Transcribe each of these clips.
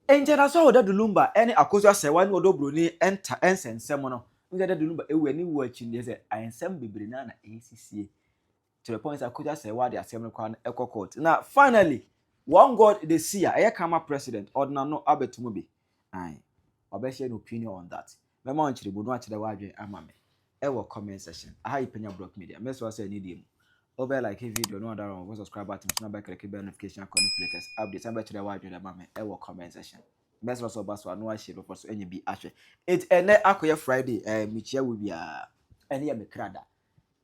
Nkyɛdaso a ɔda Dulumba ne Akosua Serwaa ne Odo Broni nta nsɛnsɛm no ho sɛ da Dulumba awuɛ ne wuo akyi no deɛ sɛ ansɛm bebree no ara na ɛresisie to the point sɛ Akosua Serwaa de asɛm no koraa no kɔ court na finally one God de si a ɛyɛ kama president ɔde n'ano abɛto mu bi ae ɔbɛhyɛ no opinion on that Mɛma wo nkyerɛmu na woakyerɛ w'adwene ama me wɔ comment section. Aha yi Panya Brock Media. Mɛsrɛ wo sɛ anidie mu, wobɛ like video na woadara wɔn subscribe button so na wobɛkleke bell notification icon no for latest updates na wobɛkyerɛ w'adwene ama me wɔ comment section. Mɛsrɛ wo sɛ woba so a na woahyɛ bepɔ so anya bi ahwɛ. Enti ɛnnɛ akɔyɛ Friday, ɛɛ mekyia wo biara. Ɛne yɛ me kra da.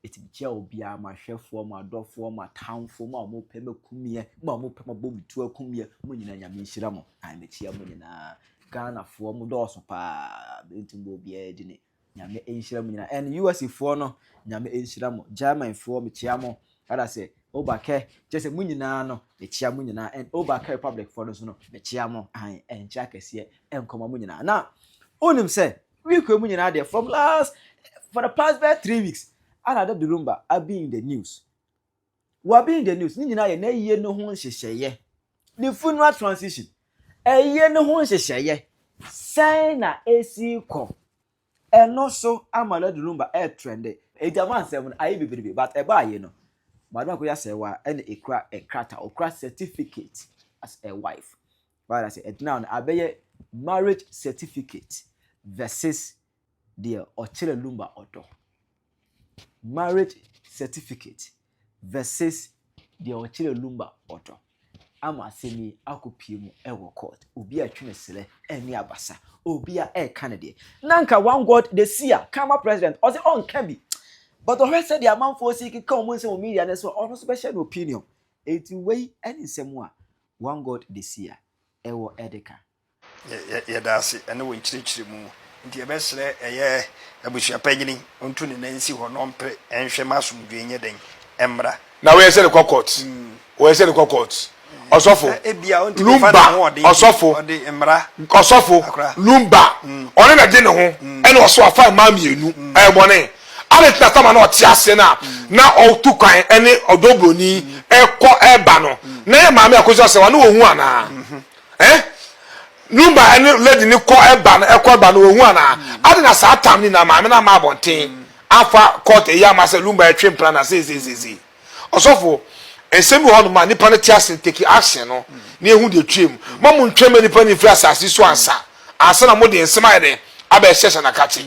Ɛtumi kyerɛ obiara, m'ahwɛfoɔ, m'adɔfoɔ, m'atamfoɔ, mo a mopɛ m'akumiɛ, mo a mopɛ mabɔ me tuo akumiɛ, mo nyinaa Nyame nhyira mo. Ae mekyea mo nyinaa. Ghanafoɔ mo dɔɔso paa, mɛntu mbɔ obiara dini. Nyame nhyira mo nyinaa. And US foɔ no, Nyame nhyira mo. German foɔ mekyea mo. Ada sɛ, Obakɛ, kyerɛ sɛ mo nyinaa no, mekyea mo nyinaa. And Obakɛ Republic foɔ no nso no, mekyea mo. Ae, ɛnkyɛ akɛseɛ, ɛnkɔma mo nyinaa. Na, wonim sɛ, Week wei mu nyinaa deɛ from last for the past bɛyɛ three weeks ana da durumba abi in the news wabi in the news ne nyinaa yɛ n'ayie ne ho nhyehyɛeɛ ne funeral transition ayie ne ho nhyehyɛeɛ sɛn na esi kɔ ɛno so ama da durumba ɛtrɛnde ɛgyama nsɛm no ayɛ bebrebe but ɛba ayie no madam akɔyɛ asɛe wa ɛna ekura ɛkrata okura certificate as a wife W'ada ase ɛgyina hɔ no abɛyɛ marriage certificate versus deɛ ɔkyerɛ lumba ɔdɔ marriage certificate versus deɛ ɔkyerɛ lumba ɔdɔ ama asɛm yi akɔpie mu ɛwɔ court obi a ɛtwe ne serɛ ɛne abasa obi a ɛka ne deɛ na nka one god de si a kama president ɔsɛ ɔnka bi but ɔhwɛ sɛdeɛ amanfoɔ si keka wɔn nsɛm wɔ media no so ɔno nso bɛhyɛ no opinion enti wei ɛne nsɛm a One God Desia, ɛwɔ Edeka. Yɛ yɛda ase ɛne wo nkyerɛkyerɛmu nti yɛbɛsrɛ ɛyɛ abusua panyini ɔntu ne nan nsi hɔ na ɔmpere ɛnhwɛ ma asomdwoe nyɛ dɛn ɛmmra. Na woyɛ sɛ no kɔ court woyɛ sɛ no kɔ court ɔsɔfo lumba ɔsɔfo ɔsɔfo lumba ɔne na de ne ho ɛna ɔso afan maa mienu ɛyɛ bɔne Adɛn nti na Tamar na ɔte aseɛ no a na ɔtu kwan ne ɔdɔ buroni ɛkɔ ɛba no? Na yɛ maame a kɔsi ɔsɛ wa na ɔhu anaa? Eh? Numa ɛne lady ne kɔ ɛba no ɛkɔ ɛba no ɔhu anaa? Adɛn na saa tam ni na maame no ama abɔnten afa court ɛyi ama sɛ Lumba ɛtwe mpena na sei sei sei sei? Ɔsɔfo, nsɛm bi hɔ nom a nipa no te ase take action no na yɛhu deɛ ɛtwea mu. Ma mo ntwɛn ma nipa no mfiri asase so ansa ansa na mo de nsɛm ayɛ dɛn abɛhyɛhyɛ no akakye.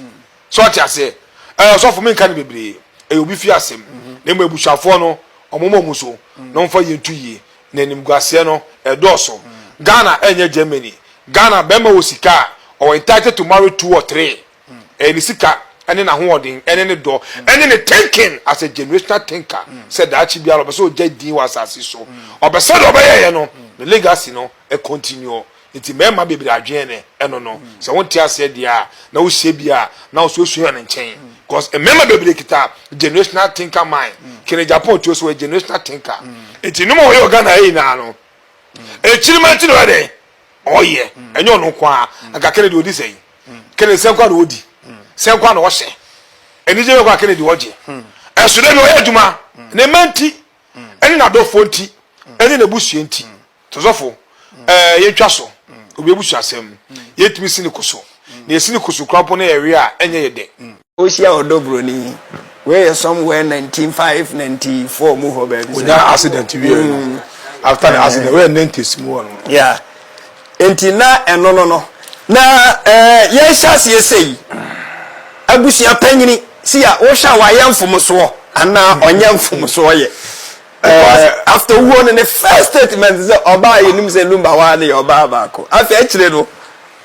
So ɔte aseɛ? Ɛɛ ɔsɔfo menka no bebree, ɛyɛ obi fie asɛm. Na mmom abusuafoɔ no, wɔmoma wɔn so na wɔmfa yie nto yie. Na animguaseɛ no, ɛdɔɔso. Ghana ɛnyɛ Germany. Ghana barima wɔ sika a, ɔwɔ entitled to marry two or three. Ɛyɛ ne sika ne n'ahoɔden ne ne dɔ ne ne thinking as a generational thinker sɛ daakye biara ɔpɛ sɛ ɔgya din wɔ asase so. Ɔpɛ sɛdeɛ ɔbɛyɛeɛ no, ne legacy no continue. Enti mmarima bebree adwene ne ɛno no. Mm. Sɛ wonte aseɛ deɛ a na wohyɛ bi a na wo so wosuhia no nkyɛn. Because mm. mmarima bebree kita generational thinker mind. Mm. Kene Japan tuo so wɔyɛ generational thinker. Enti nom a wɔyɛ Ghana ha nyinaa no. Akyirima nti na ɔyɛ dɛn? Ɔyɛ. Ɛnyɛ ɔno nko a. Anka Kennedy ɔdi sɛn? Kennedy sɛn kwa na ɔdi? Sɛn kwa na ɔhyɛ? Anigye bɛ kwa Kennedy ɔgye? Ɛso dɛ bi ɔyɛ adwuma. Ne mma nti, ɛne n'adɔfoɔ nti, ɛne n'abusua nti. Tosofo, Ɛɛ, yentwa so. Obi abusuasɛm. Yentumi si ne ko so. Nea esi ne ko so koraa mpo no yɛ we a ɛnyɛ yɛ dɛ. Ohyia ɔdɔ buroni. Wei yɛ somewhere nineteen five, ninety four mu hɔ baabi saa. Onyaa accident wiei no, after ne accident, wei yɛ nineties mu hɔ nom. Yeah. Enti na ɛno no no. Na ɛɛ, yɛrehyɛ aseɛ sei, abusua panyini, si a, wohwɛ a wayɛ mfomsoɔ anaa ɔnyɛ mfomsoɔ yɛ? Because after owuo no ne first statement sɛ ɔbaa yɛnim sɛ Lumba hɔ a ne yɛ ɔbaa baako. Afei akyire no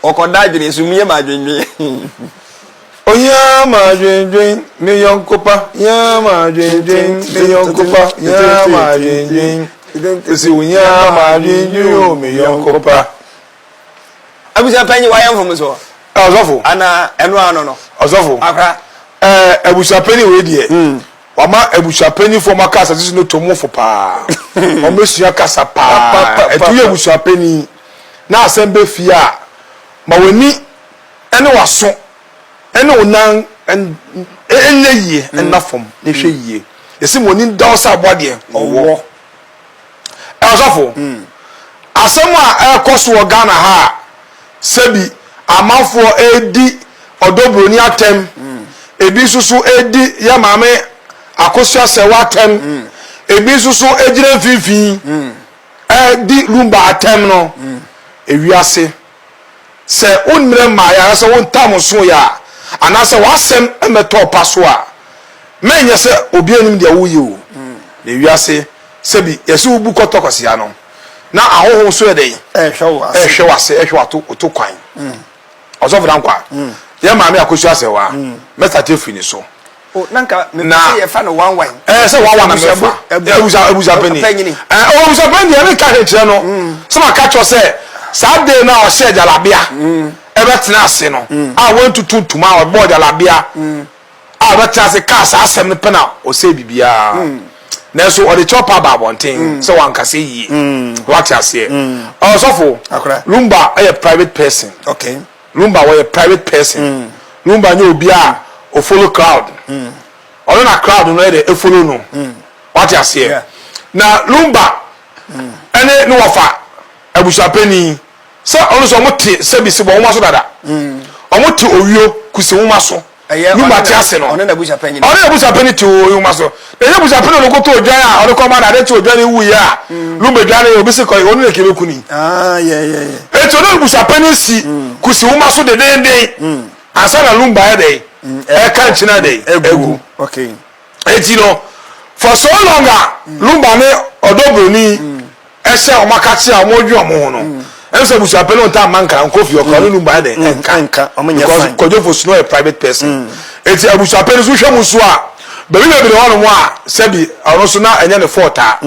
ɔkɔda adwene nso mie m'adwendwen. Ohia m'adwendwen me yɔnko pa hia m'adwendwen me yɔnko pa hia m'adwendwen Esi wo hia m'adwendwen o me yɔnko pa. Abusua panyin wayɛ mfomsoɔ. Ɔsɔfo. Anaa ɛno ano no. Ɔsɔfo. Akora. Ɛɛ abusua panyin wei deɛ. Hmm. Wama abusuapanyinfoɔ ma kasa sisi no tom fo paa. Wɔn bɛsua kasa paa. Ɛtu yɛ abusuapanyin na asɛm bɛ fie a, ma w'ani ne w'aso ne wo nan nyɛ yie nna fam na hwɛ yie. Yɛse ma w'ani nda hɔ sɛ aboa deɛ ɔwɔ. Ɔsɔfo, asɛm a ɛrekɔ so wɔ Ghana ha a sɛbi amanfoɔ redi ɔdɔ buroni atɛm, ebi nso so redi yɛ maame Akosua Sɛwa atɛm, ebi nso so gyina mfimfini di Lumba atɛm no, ewiase. Sɛ wo mmerɛ mmaeɛ anaasɛ wo ntam nsoeɛ a, anaasɛ w'asɛm mmɛtɔ ɔpa so a, mma ɛnyɛ sɛ obiara nnim deɛ woreyɛ o. Na ewiase, sɛbi yɛse wo bu kɔtɔ kwasia no, na ahɔho nso yɛ dɛn? Ɛrehwɛ w'ase, ɛrehwɛ w'ato oto kwan. Ɔsɔfo Dankwah, yɛn maame Akosua Asɛwaa, mɛstate afiri ne so. o na nka mepɛ sɛ yɛfa no one one ɛɛ sɛ one one na mɛfa abusa abusa panyin ɛɛ ɔwɔ abusa panyin deɛ ɛne ka hwɛ nkyerɛ no sɛ ma ka kyerɛ sɛ saa de na ɔhyɛ jalabia ɛbɛtena ase no a wɔntutu ntoma a ɔbɔ jalabia a ɔbɛtena ase kaa saa asɛm no pɛ na ɔsɛ biribiara nanso ɔde kyɛw pa ba abɔnten sɛ wankasa yie wate aseɛ ɔsɔfo lumba ɛyɛ private person okay Lumba ɔyɛ private person Lumba nyɛ obi a o follow crowd ɔno na crowd no ɛdɛ follow no wate aseɛ na Lumba ɛne ne wɔfa abusuapɛni sɛ ɔno sɛ ɔmo te sɛbi si bɔ nwoma so dada ɔmo te owio kusi nwoma so. Nnwuma ate ase no, ɔne n'abusuapɛn no te owuuma so. Na ɛnyɛ abusuapɛn no na ɔkɔtɔ odwan a ɔde kɔma no. Ade kye odwan no wuiɛ a, Lumbe dwan no yɛ obi se kɔe, ɔno na ɛkame kuni. Enti ɔne abusuapɛn no si kusi nwoma so dendeenden ansa na Lumbe ayɛ dɛn? Ɛka nkyene ayɛ dɛn? Agu. Enti no, for so long a Lumba ne ɔdɔ buroni ɛhyɛ wɔn akakyea a wɔn dwe wɔn ho no, ɛmu sɛ busuapɛ no ntaa mma nkra nkɔ fie ɔkra ne Lumba ɛde ɛnka because Kwadwofo Snow yɛ private person. Enti abusuapɛ no so hwɛ mu so a, baabi bebree hɔ nom a sɛbi ɔno so na ɛnyɛ ne fault a,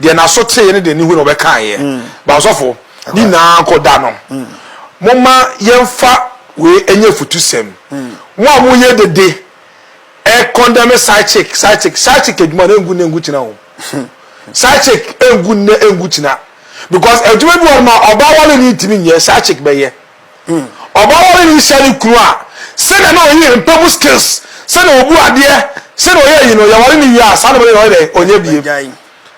deɛ n'aso teeɛ ne deɛ ne hu na ɔbɛkaeɛ. Ba ɔsɔfo, ne nyinaa kɔ da no, momma yɛmfa wei ɛnyɛ afutusɛm. Mo a moyɛ dede E condemne side chick side chick side chick adwuma no engu nne engu kyina o side chick engu nne engu kyina because adwuma bi wɔ ma ɔbaa wale ni ntumi nyɛ side chick bɛyɛ ɔbaa wale ni hyɛ ne kunu a sɛnea na ɔyi mpɛ mu skills sɛnea obu adeɛ sɛnea ɔyɛ yi no yɛware ne wie a saa na ɔyɛ ɔyɛ dɛ ɔnyɛ bie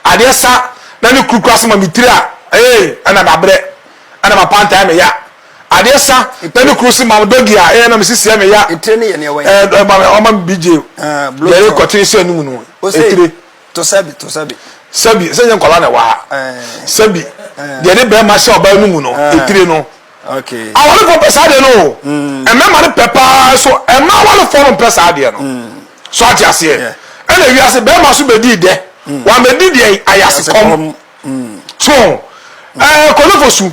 adeɛ sa na ne kurukura so ma me tiri a ee ɛna mabrɛ ɛna mapanta ɛmɛ ya. Adeɛ sa pɛ ne kuro si ma dɔ gi a ɛyɛ na me si siɛ me ya ɛɛ ma me ɔma me bi gye yɛre kɔte sɛ ne mu no etire to sɛbi to sɛbi sɛbi sɛ nyɛ nkɔla na ɛwɔ ha sɛbi deɛ ne bɛrima hyɛ ɔbaa no mu no etire no awalefoɔ pɛ saa deɛ no o ɛmɛma no pɛ paa so ɛma awalefoɔ no pɛ saa deɛ no so ate aseɛ ɛna wiase bɛrima so bɛdi dɛ wɔn bɛdi deɛ ayase kɔm so ɛɛ kɔnefo su.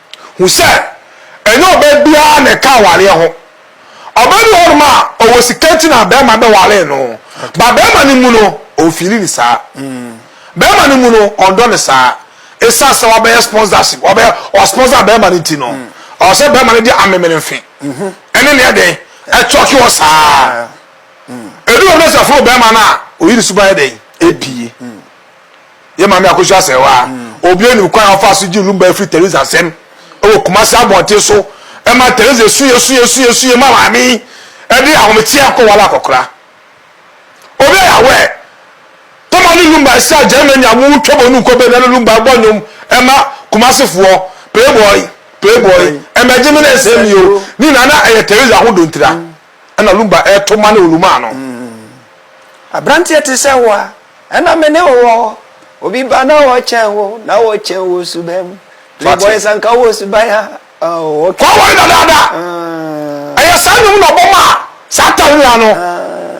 Hu sɛ ɛnyɛ ɔbaa biara na ɛka awareɛ ho. Ɔbaa bi wɔ hɔnom a, ɔwɔ sika nti na barima bɛwaree no. Ba barima no mu no, ɔmfiili ne saa. Barima no mu no, ɔndɔ ne saa. Ɛsiane sɛ wabɛyɛ sponsorship, wabɛyɛ ɔsponsor barima no nti no, ɔwɔ sɛ barima no de amemene mfe ɛne ne ɛdɛn ɛtɔke wɔ saa. Ɛdu baabi na sɛ ɛforo barima no a, ɔyi ne suban ɛdɛn ɛpie. Yɛn Maame Akosua Sɛwaa, obi anim kwan a ɔfaa so gyee Lumba firi Teresa nsam wɔ Kumasi abɔnten so ma Teresa suiɛ suiɛ suiɛ suiɛ ma Maame yi de ahomekyeɛ akɔwale akɔkora. Obi a yɛawɛ Toma ne Lumba ahyia Germany a wɔretwa bɔ nunko bɛ na ne Lumba bɔ nnwom ma Kumasefoɔ, Playboy, Playboy, Mmɛgye me na nsɛe me o, ne nyinaa na ɛyɛ Teresa ho dontira. na Lumba reto mma no Olumaa no. Aberanteɛ te sɛ wo a, ɛna me ne wo wɔ hɔ. Obi ba na ɔkyɛn wo, na ɔkyɛn wo suban mu. Playboys anka wɔ suban a, oh, okay. Kɔ wɔre dadaada. Ɛyɛ saa nnwom na ɔbɔ maa saa Tawia no.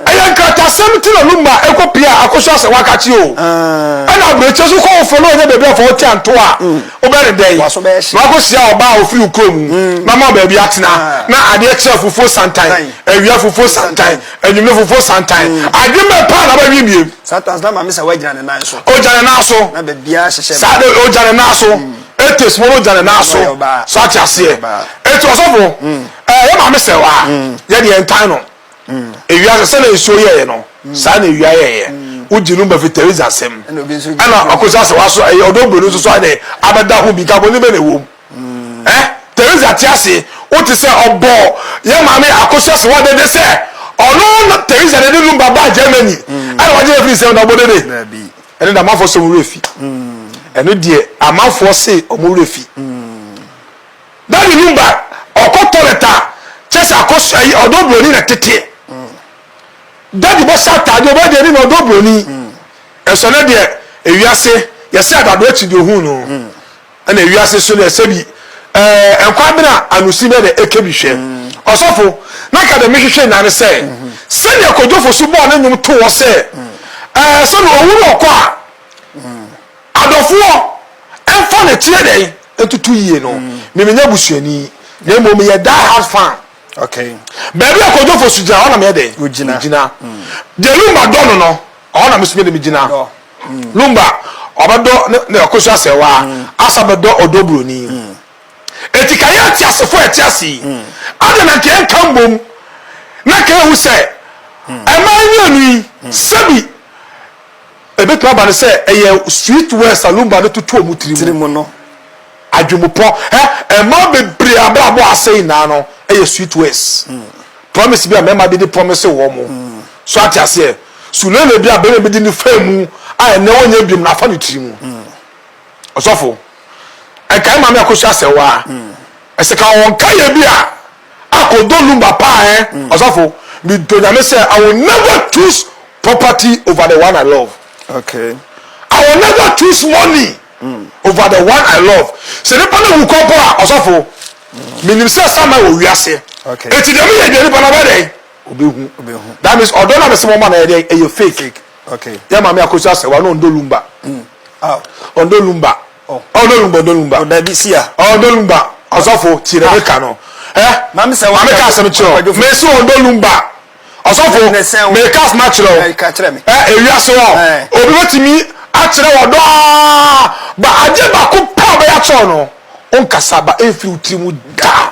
Ɛyɛ nkratasɛm ti na Lumba kɔ pia Akosua sɛ waka kye o. Ɛna aburokyire so kɔ wofo na ɔnya baabi a fa wo ti anto a. Wobɛyɛ dɛn na woakɔhyia ɔbaa a ɔfiri wo kurom na ama wo baabi atena? Ná adeɛ kyɛ afufuo santan, awia afufuo santan, anwummerɛ afufuo santan. Adwene bɛn paa na wobɛdwene bio? Ogya ne nan so. Saa de, ogya ne nan so. Atheist mpo no, ogya ne nan so. So ate aseɛ? Enti ɔsɔfo, ɛɛ, yɛ maame sɛwaa, yɛde yɛn tan no. ewiase sɛnea nsuo yɛeɛ no saa na ewia yɛeɛ wogye no mafi Teresa asɛm ɛna ɔkɔsi asɛ waso ɛyɛ ɔdɔ buroni nso so ade abɛda ho bi nka bɔne bɛ na ɛwom ɛ Teresa te ase wote sɛ ɔbɔ yɛ maame akɔsi asɛ wadede sɛ ɔno na Teresa de de lumba baa Germany ɛna wagye afiri nsɛm na ɔbɔ dede ɛne da amanfoɔ sɛ wɔn werɛ fi ɛno deɛ amanfoɔ se wɔn werɛ fi Ba ne num ba ɔkɔ toilet a kyɛ sɛ akɔ so ayi ɔdɔ broni na tete. Daddy bɔ hyɛ ataade ɔbaa deɛ ne na ɔdɔ broni. Ɛsɔ ne deɛ ewiase yɛsɛ adado akyi deɛ ohun no. Ɛna ewiase so deɛ sɛbi ɛɛ nkwa bena anusi bɛ na eke bi hwɛ. Ɔsɔfo na ka deɛ me hwehwɛ nyinaa ne sɛ sɛdeɛ Kojo Fosu bɔɔ ne nwom too hɔ sɛ ɛɛ sɛ na owu na ɔkɔ a. Adɔfoɔ, ɛmfa no ɛteɛ dɛn ntutu yie no, me menyɛ busuani, na mmom meyɛ die hard fan. Okay. Baabi a Kojo Fosu gyina hɔ na meyɛ dɛn? Wogyina. Megyina. Deɛ Lumba dɔ no no, ɛhɔ na me nso mede megyina. Dɔ. Lumba, ɔbɛdɔ ne ne Akosu Asɛɛwaa, asa abɛdɔ ɔdɔ buroni. Enti ka yɛn ateasefoɔ a yɛte ase yi, adɛn na nka yɛnka mmom na nka yɛhu sɛ mmaa mmienu yi, sɛbi, Ɛbɛtumi aba no sɛ ɛyɛ sweet words a Lumba no toto wɔn tiri mu. Tirimu no. Adwemmupɔ. Hɛ! Mmaa bebree a abrabɔ asɛe nyinaa no yɛ sweet words. Promise bi a mmarima bi de promise wɔn. So ate aseɛ? Sulele bi a barima bi de no faa mu a ɛnnɛ ɔnyɛ biom no afa ne tiri mu. Ɔsɔfo, ɛkae Maame Akosua Sewaa. Ɛsɛ ka wɔn ka yɛ bi a akɔ do lumba paa eh ɔsafo me dɔ nyame sɛ I will never choose property over the one I love okay I will never choose money over the one I love sɛ nipa no wu kɔ mpo a ɔsafo me nim sɛ sa ma wɔ wiase okay eti deɛ me yɛ deɛ nipa no bɛ dɛn obe hu that means ɔdɔ na mɛ sɛ mo ma na yɛ dɛn ɛyɛ fake okay yɛ maame akosi asɛ wa no ɔndɔ lumba ɔndɔ lumba. Ɔ ɔ dolumba dolumba. Ɔ dabi sia. Ɔ ɔ dolumba ɔsɔfo tie na meka no ɛ Mame sɛ waka asɛm kyerɛ wo Me se ɔ dolumba ɔsɔfo meka asɛm akyerɛ wo ɛ Ewiase hɔ obi bɛtumi akyerɛ wo ɔdɔ aa But adeɛ baako pɛ a ɔbɛyɛ akyerɛ wo no Ɔnkasa but ɛmfiri wo tiri mu da.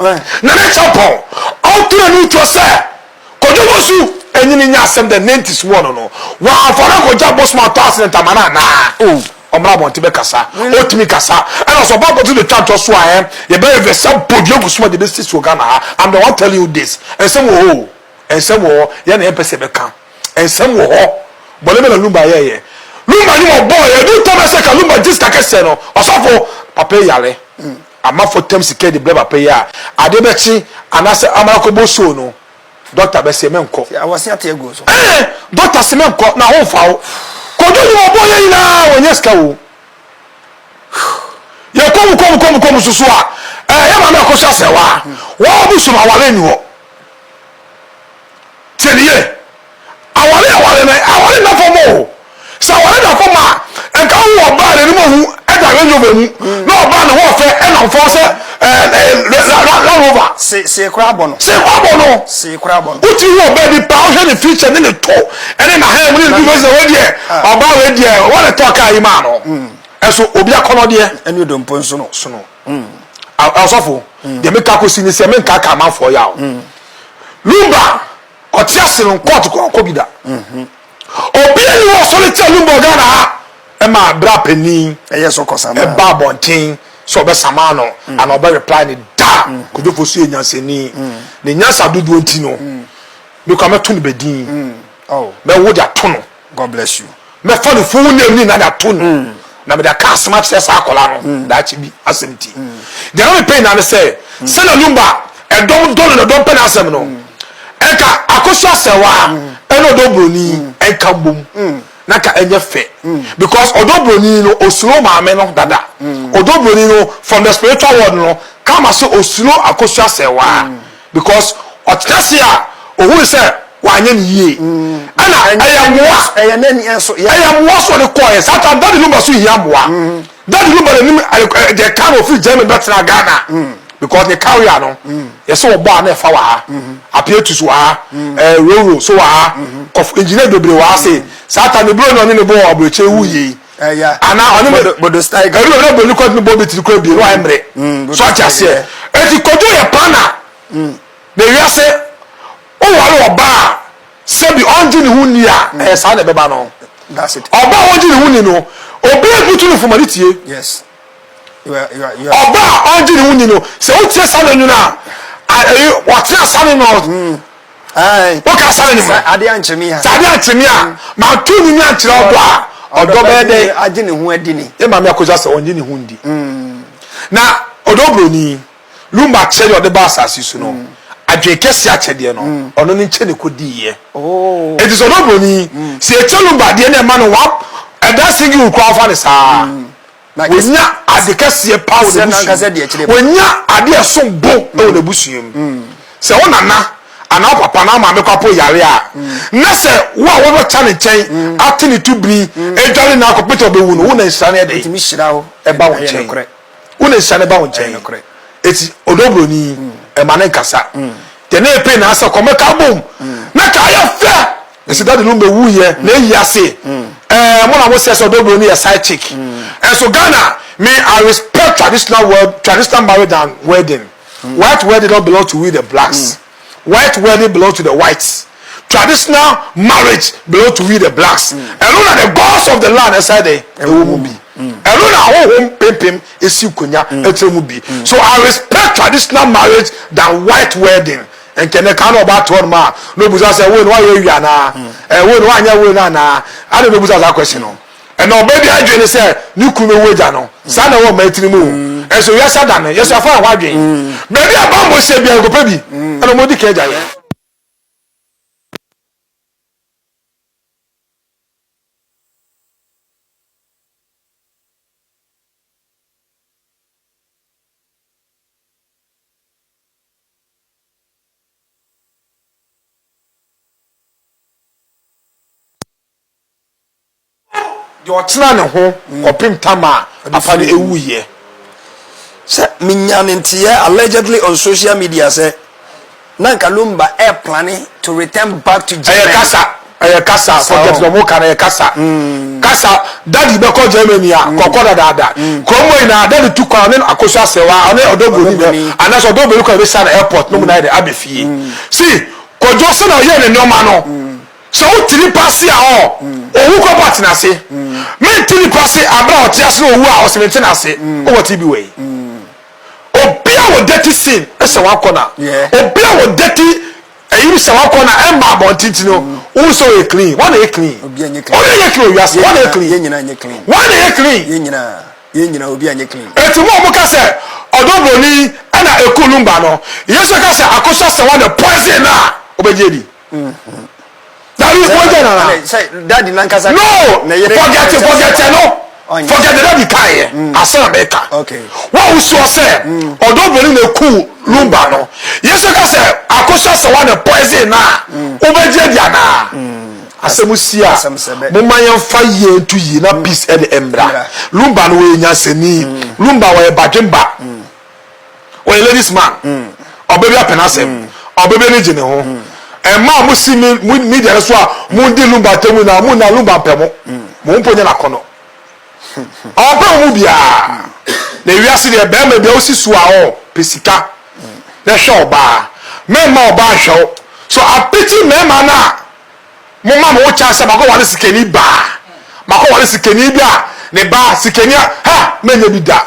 Na ne champɔn ɔntora no utwa sɛ Kojo Nwosu enyi ne nya asɛm dɛ Nanti si wɔ no no, ɔammfa no ankɔgye abosom a ɔtɔ ase ne ntama no anaa? Oh, ɔmmra abɔnten bɛkasa. Otumi kasa. Ɛna sɛ ɔba abɔnten betwa ntɔ so a ɛn, yɛbɛyɛ vɛ sɛ bodua gu so ma de besi so wɔ Ghana ha. I'm the one telling you this. Nsɛm wɔ hɔ o. Nsɛm wɔ hɔ. Yɛn na yɛmpɛ sɛ yɛbɛka. Nsɛm wɔ hɔ. Bɔne bɛn na Lumba yɛeɛ? Lumba nnwom a ɔbɔeɛ, ɛduru Tɔmɛsɛka, Lumba gist akɛseɛ no, ɔsɔfo, papa yi yare. Amafo tam sika de brɛ papa yi a, ade bɛkye anaasɛ ɔmra kɔbɔ show no, dɔkta bɛse menkɔ. Tia wɔ se ate agu wo so. Eeh dɔkta se menkɔ na ho nfa wo. Kwadwo nnwom a ɔbɔɔ yɛ nyinaa wɔnnya sika oo. Yɛkɔ mu kɔ mu kɔ mu kɔ mu nso so a, eeh yɛ maame akɔhwɛ asrɛwaa. Wɔn a wɔbɔ show no aware nni hɔ. Tie no yie. Aware yɛ aware na aware nna fam o. Sɛ aware da fam a, nka wo wɔ ɔbaa a n'anim ahu da Range Rover mu na ɔbaa ne ho ɔfɛ nam fam sɛ Land Rover. See koraa abɔ no. See koraa abɔ no. See koraa abɔ no. Wotumi hu ɔbaa bi paa, wohwɛ ne feature ne ne to ne n'ahan mu ne ne dwuma sɛ wei deɛ ɔbaa wei deɛ wɔn na ɛtɔɔ kaa yi maa no. Ɛso obi akɔnɔdeɛ. Ɛne odompo nso no. ɔsɔfo deɛ meka kɔsi ne sɛ menkaka amanfoɔ yaw lumba ɔte ase no nkɔɔto kɔ ɔkɔ bi da obi a yi wɔ sɔre kyɛ lumba ghana ha ɛma bra panin ɛba abɔnten sɛ ɔbɛsama no ana ɔbɛ reply ne da kodwofo so yɛ nyansani ne nyansa dodoɔ nti no mekɔ mɛto no bɛdin mɛwo de ato no God bless you. Mɛfa no full name ni na de ato no hmm. na mede aka asɛm akyerɛ saa akwadaa no hmm. daakye bi asɛm ti. Hmm. Deɛ na mepɛ nyinaa ne sɛ sɛ na lumba ɛdɔm dɔ no na ɛdɔm pɛ na asɛm no ɛnka akoso asɛwa ɛna ɔdɔ buroni ɛnka mbom na ka ɛnyɛ fɛ because ɔdɔ buroni no osuro maame no dada ɔdɔ buroni no from the spiritual world no kama sɛ osuro akoso asɛwa. Mm. Because ɔtena ase a ohui sɛ wanyɛ ne yie ɛna ɛyɛ mmoa ɛyɛ n'ani ɛso ɛyɛ mmoa so ɔde kɔɔ yɛ saa ta dadi no ba so hia mmoa dadi no ba n'anim ɛyɛ kaa na ofiri Germany bɛtena Ghana because ne kaa wia no yɛsɛ wɔ bɔ a na ɛfa wɔ ha apietus wɔ ha ɛɛ roro so wɔ ha kɔf engineer bebree wɔ ha se saa ta ne buro na ɔne ne bɔ wɔ aburokyire wu yie. ɛya ana ɔne me bodo style ɛnu ɛna bɔ nikɔ ne bɔ bi tiri kura bie no ayɛ mmerɛ mm, so ati aseɛ eti kojú yɛ paana mm. na ewia se owari ɔbaa sɛbi ɔngye ne ho ni a mm. ɛyɛ saa na ɛbɛba no ɔbaa ɔngye ne ho ni no obi ebutu ne fuma ne tie. Yes. ɔba a ɔngye ne ho ni no sɛ wotie saa no nwunu a wɔtena saa no no woka saa no nwunu adeɛ ankye me a sɛ adeɛ ankye me a mato no nwa nkyerɛ ɔdɔ a ɔdɔ bɛyɛ dɛ agye ne ho adi ni ɛma me akɔgya sɛ ɔngye ne ho ndi na ɔdɔ buroni lumba kyɛ deɛ ɔde ba asase so no adwene kɛse akyɛdeɛ no ɔno no nkyɛ ne kɔdiiɛ ɛti sɛ ɔdɔ buroni sɛ ɛkyɛ lumba deɛ no ɛma no wap ɛda singi wokura wofa ne saa Wanya ade kɛseɛ paa wɔ n'abusua mu. Wanya adeɛ a ɛsom bo wɔ n'abusua mu. Sɛ wo nana anaa wo papa anaa wo maame koraa mpo reyare a, na sɛ wo a wobɛkya ne nkyɛn ate ne tubiri adware no ara kɔpem sɛ ɔbɛwu no, wo na nhyira no yɛ dɛn? Ɛba wo nkyɛn. Wo na nhyira no ba wo nkyɛn. Enti ɔdɔ buroni, ɛma no nkasa. Deɛ na ɛpɛ nyinaa sɛ, Kɔ mmɛka abom na ka ayɛ fɛ. Esi daddy no mɛ wu yɛ na eyi ase. Ɛɛ mo na mo sɛ sɛ ɔdɔbroni yɛ side chick. Ɛnso Ghana me I respect traditional wed traditional marriage than wedding. White wedding no belong to we the blacks. White wedding belong to the whites. Traditional marriage belong to we the blacks. Ɛno na the gods of the land ɛsɛ dɛ ɛwɔ mu bi. Ɛno na ahohom pempem esi konya ɛkyerɛ mu bi. So I respect traditional marriage than white wedding. Nkyɛ ne kan na ɔba to hɔnom a, na obisa sɛ, Woi no, woayɛ awie anaa? Ɛɛ, woi no, woanyɛ woi no anaa? Adɛn na obisa saa question no? Ɛnna ɔbaa bi adwene ne sɛ ne kunu bɛwu agya no. Saa na ɛwɔ mmaa tiri mu o. Nso wiase ada no, yɛsɛ yɛfa yɛn ho adwene. Baabi a bammɔ hyɛ biara, nkɔpɛ bi. Ɛnna wɔdi kan agya yɛn. deɛ ɔtena ne ho kɔpem tam a afa no ɛwuiɛ. Sɛ menya ne nteɛ allegedly on social media sɛ na nka Lumba ɛreplane to return back to Germany. Ɛyɛ kasa. Ɛyɛ kasa o. Forget deɛ ɔmo ka no, ɛyɛ kasa. Kasa, Daddy bɛkɔ Germany a, kɔkɔ dadaada. Kurom hɔ nyinaa, Daddy tu kwan, ɔne no Akosu Asewa, ɔne Ɔdɔboni na, anaasɛ Ɔdɔboni kɔ na ɛbɛsi ano airport nom na ayɛ dɛ aba fie. See, Kwadwo sɛnea ɔyɛɛ ne nnoɔma no, sɛ wote nipa ase a ɔɔ, owu kɔ but n'ase. Mente nipa ase aberɛ a ɔte ase na owu a ɔse mente n'ase. Wowɔ TB wɔ yi? Obiara wɔ dirty sin sɛ wankɔ na, obiara wɔ dirty. Eyinom sɛ wɔkɔ na ɛmma abɔnten nti no, wohu sɛ ɔyɛ clean. Woa na ɛyɛ clean? Obi a nyɛ clean. Obi a nyɛ clean wɔ wiase. Woa na ɛyɛ clean? Yɛn nyinaa nyɛ clean. Woa na ɛyɛ clean? Yɛn nyinaa. Yɛn nyinaa obi a nyɛ clean. Enti mo a wɔka sɛ ɔdɔ buroni na ɛku no mma no, Yesu ka sɛ akosua sɛ woa na poison no a, wobɛgye adi? Dabi wogya nana. Ɛna sɛ dadi nankasa. No forget forget no forget the dadi kan yɛ asan bɛ ka. Wa o sɔ sɛ ɔdɔ bɛni na eku lumba no yɛ sɛ ka sɛ akosha sɛ wa na poison na o bɛ gye di ana. Asɛm si a mo ma yɛn fa yie ntu yi na peace ɛna ɛmra lumba no wɔyɛ nyansani lumba wɔyɛ badwemba ɔyɛ ladies man ɔbɛ bi apɛ n'asɛm mm. ɔbɛ bi ani gye ne ho mm. ɛmaa mo si mi mo media no so a mo di lumba atɛmu na mo na lumba mpɛ mo mm. mo mpo nyɛ n'akɔnɔ ɔmpɛ mo mu biara na ewiase deɛ bɛrima bi a osi so a ɔ pɛ sika na ɛhwɛ ɔbaa mɛrima ɔbaa nhwɛ o so apiti mɛrima no a mo ma mo wo kyan sɛ makɔ wale sikani baa makɔ wale sikani bi a ne baa sikani a ha mɛnyɛ bi da.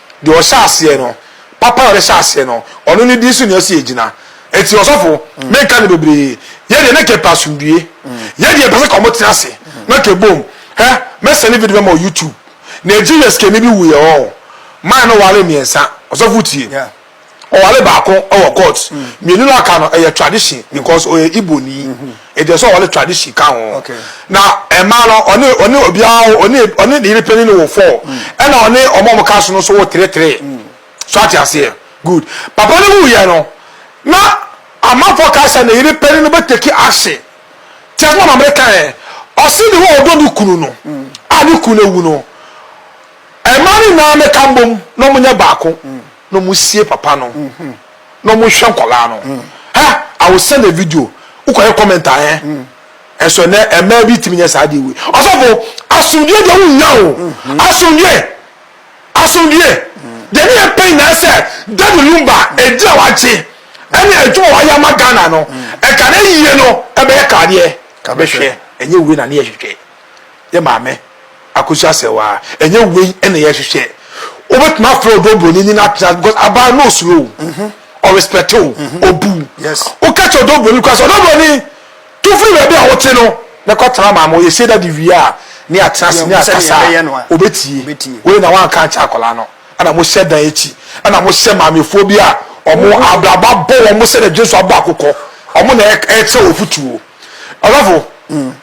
deɛ ɔhyɛ aseɛ no papa a ɔde hyɛ aseɛ no ɔno ne din so na ɛsɛ ɛgyina ɛti ɔsɔfo mm. menka no bebree yɛdeɛ na kɛpɛ asomdue mm. yɛdeɛ pɛ sɛ ka ɔmo tena ase na kɛbom hɛ mɛsɛne video bɛma ɔ youtube nigeria sikani bi wuyɛ ɔ maa no wale mmiɛnsa ɔsɔfo tie yeah. Ɔware baako wɔ court. Mmienu no a aka no ɛyɛ tradition because ɔyɛ Igbo ni. Enti ɛsɛ sɛ ɔware tradition ka ho. Na mmaa no ɔne ɔne obiara wo ɔne ɔne ne yere panin no wo four. Ɛna ɔne wɔn a wɔka so no nso wo three three. So ate aseɛ? Good. Papa no wuiɛ no na amanfoɔ kae sɛ ne yere panin no bɛ take action. Te asɛm a Mamere kae ɛ. Ɔse ne ho a ɔdɔ ne kunu no a ne kunu awu no, mmaa no nyinaa mmɛka mbom na wɔnyɛ baako. na ɔmo sie papa no na ɔmo hwɛ nkɔlaa no hɛ I will send a video wo kɔ hɛ comment a hɛ ɛnso ɛnɛ ɛmaa bi timi nyɛ saa deɛ wei ɔsɔfo asomdue deɛ wo nya o asomdue asomdue deɛ ne yɛ pɛ nyinaa sɛ David Lumba ɛdi a wagye ɛne adwuma wayɛ ama Ghana no ɛka ne yie no ɛbɛyɛ kaadeɛ kabɛhwɛ ɛnyɛ wei na ne yɛ hwehwɛ. yɛ maame akosi asɛ waa ɛnyɛ wei ɛna yɛ hwehwɛ wobɛtumi afrɛ ɔdɔ buroni ne no atena because abaa no osuro o mhm. ɔrespɛte o mhm. obu woka kyɛ ɔdɔ buroni kora sɛ ɔdɔ buroni to firi baabi a wote no na kɔtena maama ɔyɛ sei dade wie a ne atena se ne akasa obɛtie wei na woanka nkyɛ akwadaa no ɛna mohyɛ dan akyi ɛna mohyɛ maamefoɔ bi a ɔmo mhm. abraba bɔ wɔn mo sɛ na dwe so abɔ akokɔ ɔmo na ɛkyɛ wɔ futuo ɔdɔfo mm.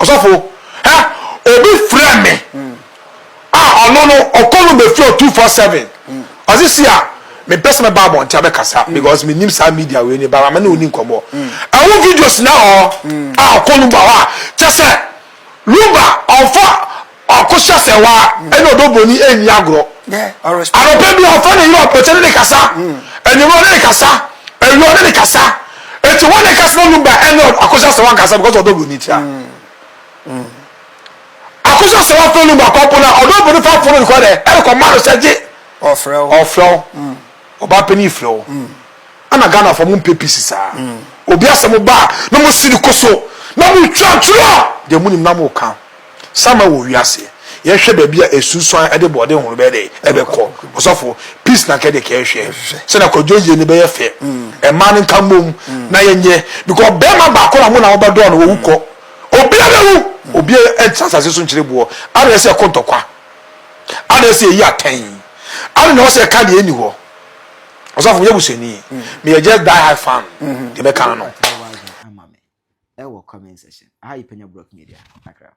Ɔsɔfo, hɛ, obi frɛ me a ɔno no ɔkɔ no bɛfiri ɔ two four seven ɔse si a mempɛ sɛ mɛba abɔnten abɛkasa because menim saa media wei ne ba me ne ɔni nkɔmmɔ ɛho videos na hɔ a ɔkɔ no ba hɔ a kyɛ sɛ Luba ɔmfa Ɔko hyɛ sɛ waa ɛne ɔdɔ bɔni ɛnni agorɔ. Anɔpa bi a ɔfa ne yere ɔpɛkyɛ ne ne kasa, anwummerɛ ɔne ne kasa, awia ɔne ne kasa. Eti wɔn ne kasa na ɔnum ba ɛne ɔko hyɛ sɛ wɔn kasa because ɔdɔ bɔni tia. Ɔko hyɛ sɛ wɔn fɛ num akɔ po na ɔdɔ bɔni fa po no kɔ dɛ ɛne kɔ ma no sɛ gye. Ɔfrɛ wo. Ɔfrɛ wo. Ɔbaa pɛ ne ifrɛ wo. Ana Ghana fɔ mo mpɛ pisi saa. Obi asɛ mo baa na mo si ne koso na mo twa twerɛ deɛ mo nim na mo kan. Sama wɔ wiase yɛ hwɛ baabi a esunsuan ɛde bɔɔden horow bɛyɛ dɛ ɛbɛkɔ ɔsɔfo peace na kɛde kɛɛ hwɛ sɛ na kwadwo yie ne bɛyɛ fɛ ɛmaa ne nka mmom na yɛ nyɛ because bɛɛma baako na mo na wɔbɛ dɔɔ no wɔ wu kɔ obia bɛ wu obia ɛntra sase so nkyerɛ boɔ ade na ɛsɛ ɛkɔ ntɔkwa ade ɛsɛ ɛyi atɛn ade na ɔsɛ ɛka deɛ ɛni hɔ ɔsɔfo mo yɛ busani me yɛ just die high fan deɛ bɛka no. ɛwɔ comment section. Aha yɛ Penya Brock Media, Accra.